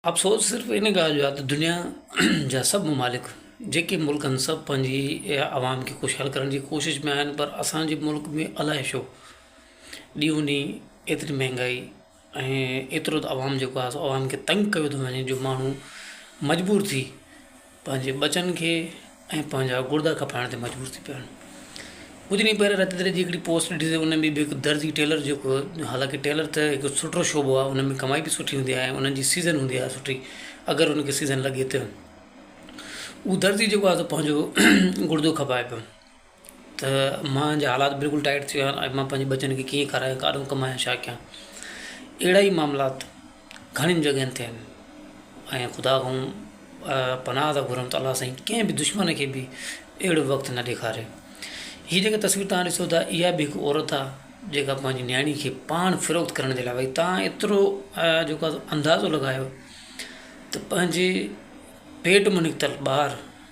افسوس صرف ان ڳالهه جو آهي ته دنيا جا سڀ ممالڪ جيڪي ملڪ آهن سڀ پنهنجي عوام کي خوشحال ڪرڻ جي ڪوشش ۾ آهن پر اسان جي ملڪ ۾ الائي ڇو ڏينهون ڏينهن ايتري مهنگائي ۽ ايترو ته عوام جيڪو آهي سو عوام کي تنگ ڪيو ٿو وڃي جو ماڻهو مجبور ٿي پنهنجي ٻچن کي ۽ پنهنجا گردا کپائڻ تي مجبور ٿي پيا آهن ڪجهه ڏينهن پهريان رتي دريجي هڪڙي پوسٽ ڏٺي تي ان ۾ به هڪ درزي ٽيلر جيڪو حالانڪه ٽيلر ته هڪ سٺو شعبو آهي ان ۾ ڪمائي به سٺي هوندي آهي انهن جي سيزن هوندي آهي سٺي اگر ان کي سيزن لڳي ته اهو درزي جيڪو آهي سو پنهنجو گردو کپائي پيو ته مان جا حالات بلڪل ٽائيٽ ٿي ويا آهن ۽ مان پنهنجي ٻچن کي ڪيئن کارايان ڪاڏهون ڪمايان ڇا ڪيان اهڙا ئي معاملات گهڻين جڳهين تي آهن ۽ خدا کان پناهه ٿا گهرون ته الله سائين ڪنهن به دشمن کي به اهڙو وقت نه ڏيکاري هي جيڪا تصوير توهان ڏسو ٿا اها به هڪ عورت آهي جيڪا پنهنجي نياڻي کي پاڻ فروخت ڪرڻ جي لاء وئي توهان ايترو جيڪو اندازو لڳايو ته پنهنجي پيٽ مون نڪتل ٻار